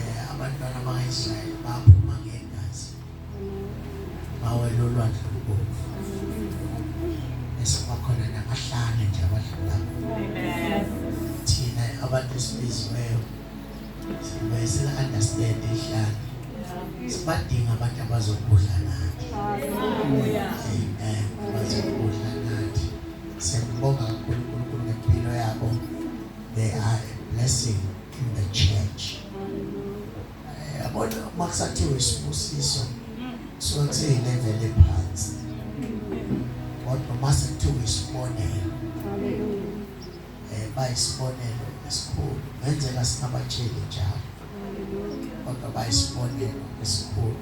Eh, abantwana bakaIsrayeli baphuma ngegazi bawela olwandle olubomvu esibakhona namahlane nje abadlula thina abantu esibiziweyo sibuye sila-understand ihlane sibadinga abantu abazokudla nathi amen abazokudla nathi siyakubonga kakhulu unkulunkulu ngempilo yabo they are a blessing in the church eh, yabona uma kusathiwa isibusiso kusuke kuseyileveli ephansi kodwa uma sekuthiwa isibonelo eh, bayisibonelo esikhulu ngenzeka singabatsheli njalo kodwa bayisibonelo esikhulu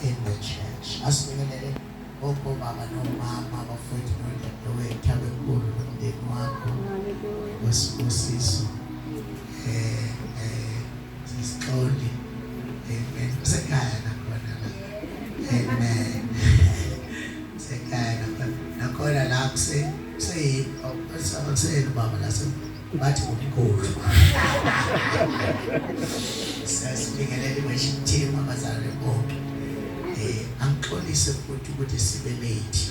in the church asibekelele Bonke obaba nomama abafowethu nodadewethu abenkulu nomndeni wakho wesibusiso eh eh sisixoli amen sekhaya nakhona amen sekhaya nakhona la kuse kuseyini oh, kuseyini baba lase Ngathi ngomkhulu. Sasibingelele washintema abazali bonke. Eh angixolise futhi ukuthi sibe late.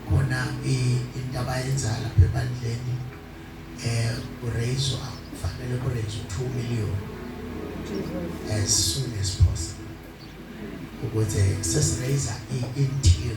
Khona indaba yenzayo lapha ebandleni eh kurayizwa kufanele kurayizwe 2 million as soon as possible. Ukuze sesirayisa i-interior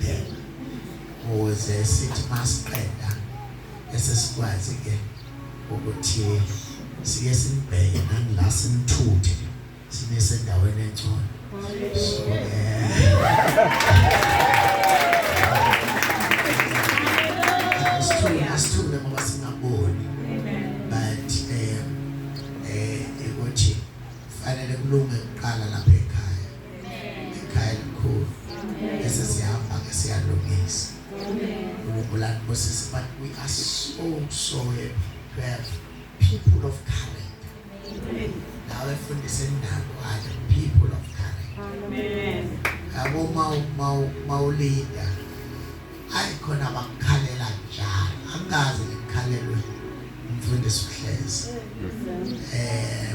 then ukuze sithi masiqeda bese sikwazi ke ukuthi siye simbheke nangila simthuthe sibe sendaweni engcono so asithule asithule ngoba singaboni but eh eh ukuthi fanele kulunge kuqala lapha ikhaya elikhulu bese siyahamba ke siyalungisa uNkulunkulu akubusise but we are so so happy to have people of character nawe fundisa indawo ayo people of character amen yabo mawu mawu mawulinda ayi khona bakukhalela njalo angazi ngikhalelwe umfundisi uhlezi eh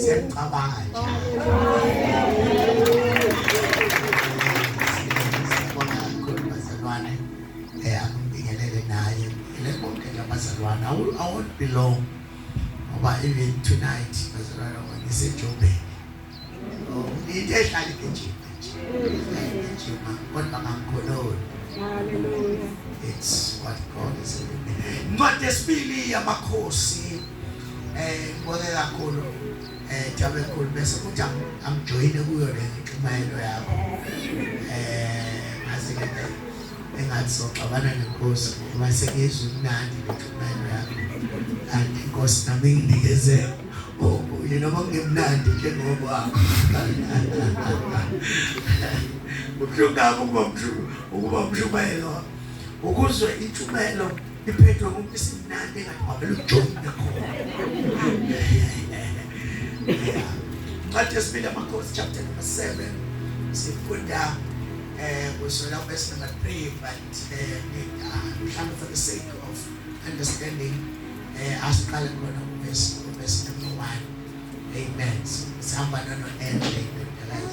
siyacabanga bazalwane angibingelele naye ngibingelele bonke labazalwane awon't belong ngoba even tonight bazalwane ngisejobeni into ehlala igijima igijima kodwa kangikhululi haleluya it's what God is doing incwadi yesibili yamakhosi eh ngibone kakhulu eh jabe khulu bese kuthi amjoyine kuyo le nxumayelo yakho eh ngazi ke engathi soxabana nenkosi uma sekizwe imnandi le nxumayelo yakho and inkosi nami nginikeze Bobo yena kwakungemnandi njengokwakho kubuhlungu ngakho ukuba mshuku ukuba mshumayelo ukuzwe intshumayelo iphethwe ngomuntu isimnandi engathi wavele ujomi nakhona incwadi yesibili amakhosi chapter number seven sifunda um kusola verse number three but um mhlawumbe for the sake of understanding Eh asiqale kubona ubesi ubesi number 1. Amen. Sihamba nalo endle guys.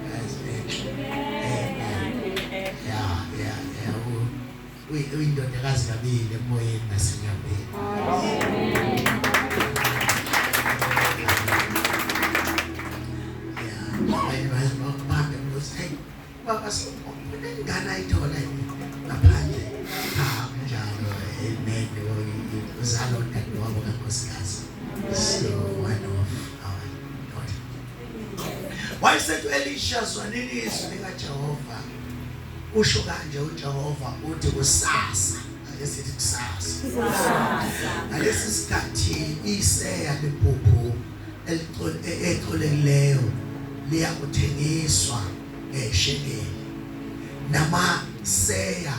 Guys. Amen. Yeah, yeah, yeah. Uyindodakazi kabili emoyeni nasenyambeni. Baba siyabonga ingane ayithola ngaphandle kunjalo amen uzalo dadewabo kankosikazi so one of our daughter wayesethi elisha zwanini izwi likajehova usho kanje ujehova uthi kusasa ake sithi kusasa ngalesi sikhathi iseya liphuphu ecolekileyo liya kuthengiswa ngeshekeli namaseya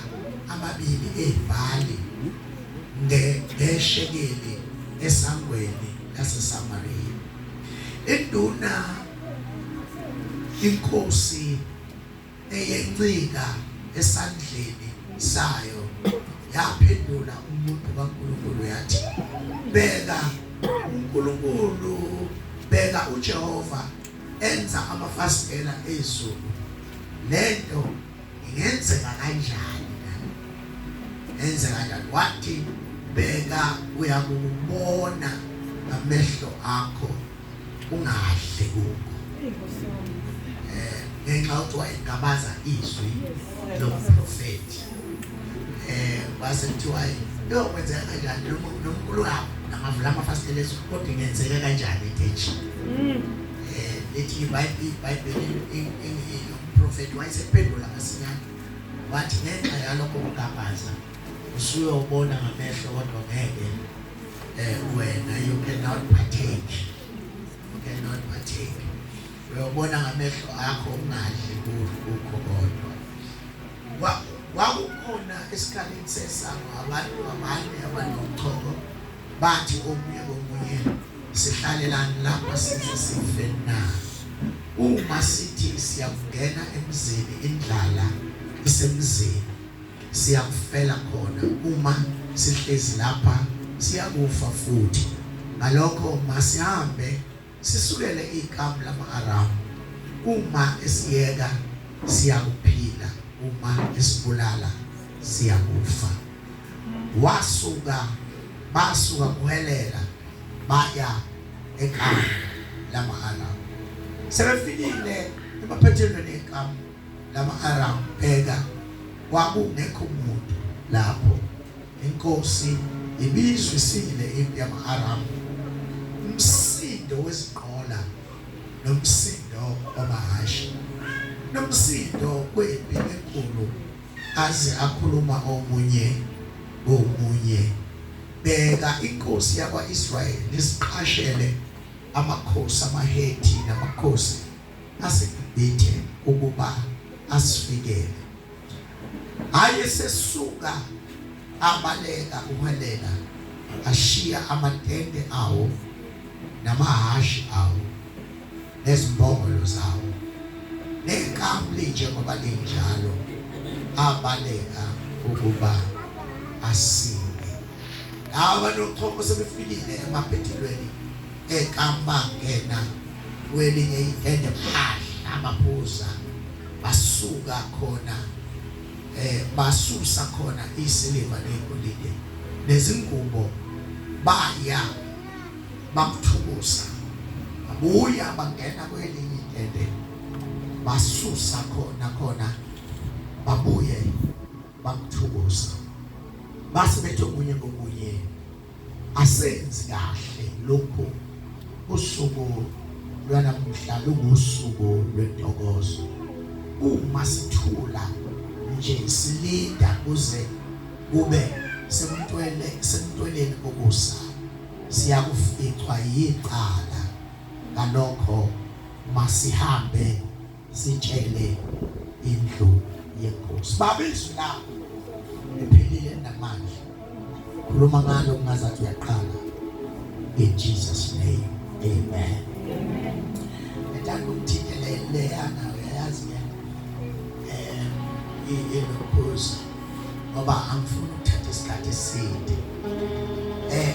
amabili ebhali ngeshekeli esangweni laseSamariya. Induna inkosi eyencika esandleni sayo yaphendula umuntu kaNkulunkulu yathi beka uNkulunkulu beka uJehova enza amafasitela ezulu lento ingenzeka kanjani enze kanjani wathi bheka uyakubona ngamehlo akho ungadli kuko eh ngenxa ukuthi wayengabaza izwi lomprofeti eh base kuthiwa yo kwenzeka kanjani lo mkhulu lapho namavula amafasitela esu kodwa ingenzeka kanjani ethethi mm. eh lethi ibhayibheli umprofeti wayesephendula masinyane wathi ngenxa yalokho kugabaza usuyobona ngamehlo kodwa ngeke eh wena you cannot partake you cannot partake uyobona ngamehlo akho ungadli kukho kodwa wakukhona esikhaleni sesango abantu abanye abanochoko bathi omunye komunye sihlalelani lapha size sife na uma sithi siyakungena emzini indlala isemzini Siyakufela khona uma sihlezi lapha, siyakufa futhi. Ngalokho masihambe sisukele ikamu lama-Aramu. Uma esiyeka, siyakuphila, uma esibulala, siyakufa. Wasuka, basuka kuhelela, baya ekamu lama-Aramu. Sebefikile emaphethelweni ekamu lama-Aramu, bheka, kwakungekho muntu lapho. Inkosi ibizwa isile impi yama-Aramu, umsindo wezinqola nomsindo wamahhashi nomsindo wempi enkulu, aze akhuluma omunye komunye. Bheka, inkosi yakwa-Israyeli iziqashele amakhosi amaHethi namakhosi asibhibhithe ukuba asifikele. Aye sesuka abaleka uHelena ashiya amatende awo namahhashi awo nezimbongolo zawo nenkamu linjengoba linjalo abaleka ukuba asinde laba nochoko sebefikile emaphethelweni enkamba ngena kwelinye ivende phadla amaphuza basuka khona eh basusa khona isiliva negolide nezingubo baya bamthukusa babuya bangena kwelinye ivende basusa khona khona babuye bamthukusa base bethe kunye ngokunye asenzi kahle lokhu usuku lwanamuhla lungusuku lwentokozo uma sithula nje silinda kuze kube semntwele semntweleni kokusa siyakuficwa yiqala ngalokho masihambe sitshele indlu yenkosi baba izwi lakho liphilile namanje khuluma ngalo kungazathi uyaqala in Jesus name amen ngithanda ukuthingelele ana uyayazi ke eh ilokhozi ngoba angifuni ukuthatha isikhathi eside eh